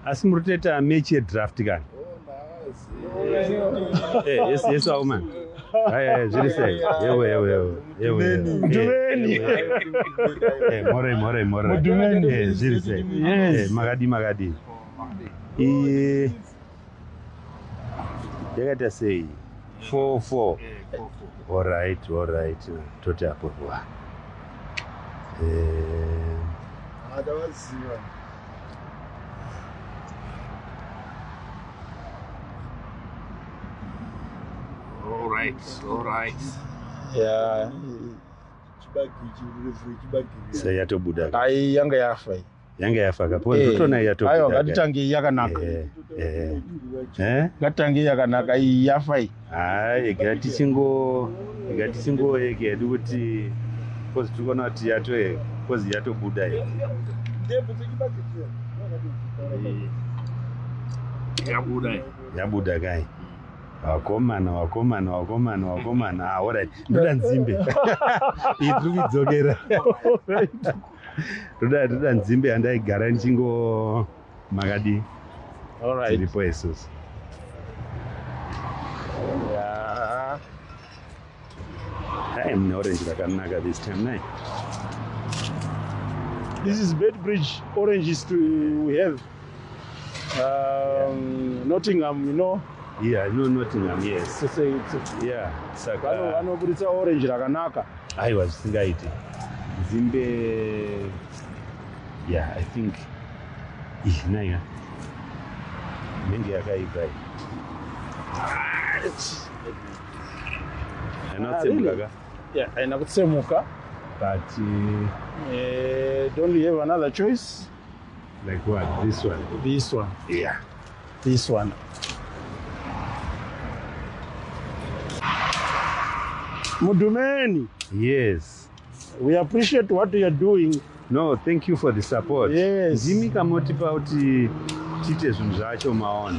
asi muri kutoita mechi yedraft kani yesu aumani zviri sei yewe yewe yewe mudumeni more more more mudumeni zviri sei makadii makadii iye yakaita sei four four orit orit toti apo wa eh. All right, all right. Yeah. Chibagi chibagi. Sayatobuda. Ai yanga yafa. yanga yafa ka because Eh, ndotona aiwa yatopera ngatitange iyi yakanaka Eh, eh. Eh? ngatitange iyi yakanaka iyi yafa iyi hayi ega tichingo ega tichingoyeke hedu kuti kozi tiri kuona kuti yato kozi yatobuda iyi yabuda iyi yabuda kai wakomana wakomana wakomana wakomana ah, alright ndoda nzimbe iyi tiri kuidzokera toda toda nzimbe yandaigara ndichingo makadii tiripo isusu mune orange rakanaka this time nai this is bed bridge oranges to we have Um, Nottingham, you know. Yeah, I know Nottingham, yes. It's a, it's a, yeah, saka. Vano, vanoburitsa orange rakanaka. Aiwa zvisingaiti. Zimbe yeah, I think ish naya. Menge yakaipa iyi. Haina ah, kutsemuka ka? Yeah, haina kutsemuka. But uh, eh, don't you have another choice? Like what? This one? This one. Yeah. This one. Mudumeni. Yes. We appreciate what you are doing. No, thank you for the support. Yes. Ndimi kamotipa kuti tiite zvinhu zvacho maona.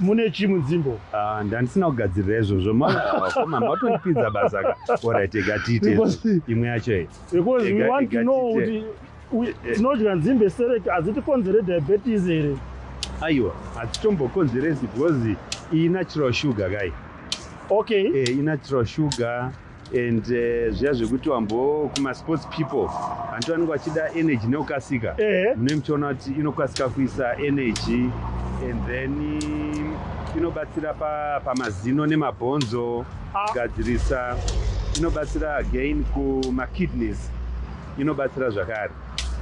mune chi mudzimbo ah, ndandisina kugadzirira izvozvo maoma matondipinza basa ka orit ega tiite imwe yacho iyi because we want to know kuti tinodya nzimbe serek hadzitikonzere diabetes here aiwa hadzitombokonzeresi because iyi natural sugar kai okay eh, inatural sugar and eh, zviya uh, zvekuti wambo kumasports people vantu vanenge vachida energy nekukasika eh. mune muchiona kuti inokasika kuisa energy and then inobatsira pamazino pa nemabhonzo ah. kugadzirisa ah. inobatsira again kumakidneys inobatsira zvakare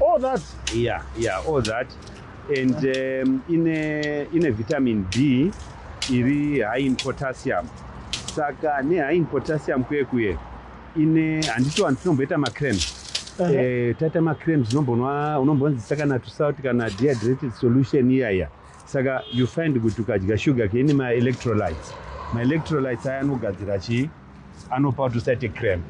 all that yeah yeah all that and um, ine, ine vitamin b iri high in potassium saka nehigh in potassium kuye kuye ine handiti vanhu tinomboita macram uh -huh. eh, taita macram zinombonwa unombonzisa kana tusalt kana dehydrated solution iya iya saka you find kuti ukadya sugar ke ine maelectrolytes maelectrolytes aya anogadzira chii anopa kuti usaite cramp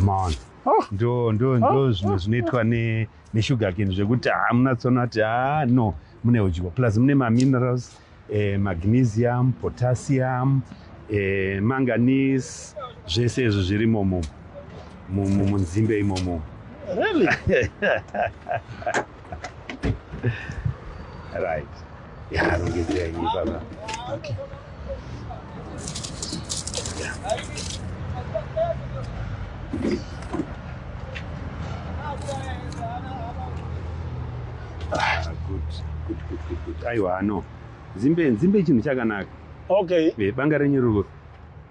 maona oh. ndo ndo ndo oh. zvimwe zvinoitwa ne nesugar cane zvekuti hamuna tsono ati haa no mune udyo plus mune maminerals eh, magnesium potassium eh, manganese zvese izvi zviri momo munzimbe imomo really? right aiwa no zimbe nzimbe chinhu chakanaka okay eh, banga renyu ruri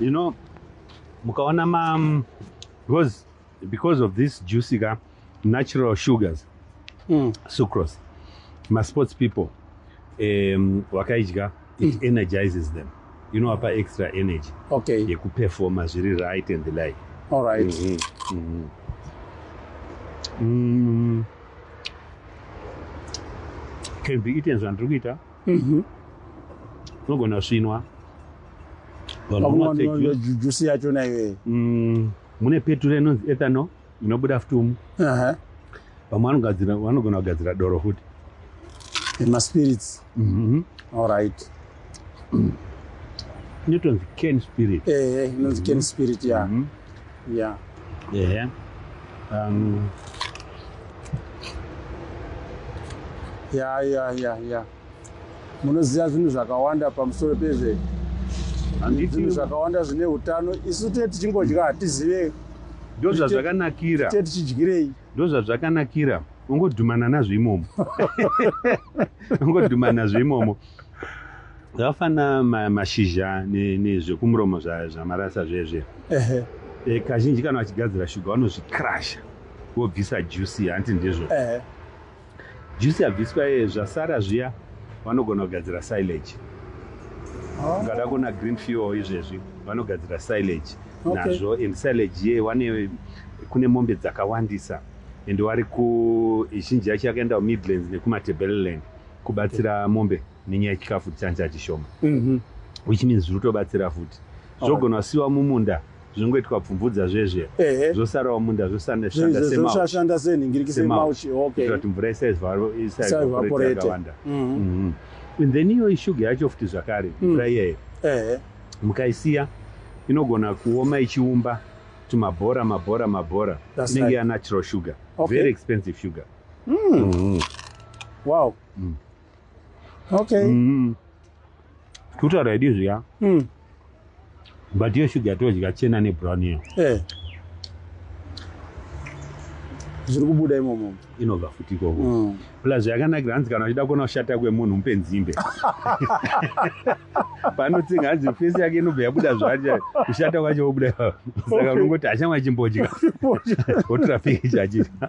you know mukaona ma because because of this juicy ka natural sugars mm. sucrose masports people um, wakaidya it mm. energizes them inowapa extra energy okay. yekuperforma zviri right and the like all right mm -hmm. Mm -hmm. Mm. can be eaten zvandiri kuita mm -hmm. unogona svinwa vanhu jusi yacho naiwee mm, mune peture inonzi ethanol inobuda futi umu uh-huh. vamwe vanogadzira vanogona kugadzira doro futi maspirits mm-hmm. allright inotonzi ken spirit eh, eh, inonzi ken mm-hmm. spirit ya mm-hmm. ya ehe um, ya ya ya ya munoziva zvinhu zvakawanda pamusoro pezve zvinhu zvakawanda zvine utano isu tee tichingodya hatizive ndozvazvakanakira tee tichidyirei ndozvazvakanakira ungodhumana nazvo imomo ungodhumana nazvo imomo zvafana mashizha nezvekumuromo zvamarasa zvezve eh, kazhinji kana vachigadzira shuga vanozvikrasha vobvisa jusi hanti ndizvo Juice yabviswa iye zvasara zviya vanogona kugadzira silage. Oh. Ukada kuona green fuel izvezvi vanogadzira silage okay. nazvo and silage iye wane kune mombe dzakawandisa and wari ku zhinji yacho yakaenda kumidlands nekumatebeleland kubatsira okay. mombe nenyaya yechikafu chancha chishoma mm -hmm. which means zviri kutobatsira futi zvogona kusiwa mumunda zvinongoitwa pfumvudza zvezve Ehe. zvosarawo munda zvosanda Zve- shanda zve- semau zvoshanda senhingiriki semau chi- okay. kuitira kuti mvura isa isva- isa Isa evaporate evaporate. yakawanda Mhm. Mhm. And then iyoyi shuga yacho futi zvakare Mm. mvura iyeyo Ehe. mukaisiya inogona kuoma ichiumba tumabhora mabhora mabhora That's inenge right. yanatural sugar Okay. very expensive sugar Mm. Mhm. Wow. Mm. okay mm. kutaura idi zviya mm. but iyo shuga yatodya chena nebrown iyo eh. zviri kubuda imomo inobva futi ikoko mm. plus yakanakira hanzi kana achida kuona kushata kwemunhu mupe nzimbe panotsinga hanzi fesi yake inobva yabuda zvacha kushata kwacho wobuda saka unongoti hachamwa chimbodya otrafiki chachita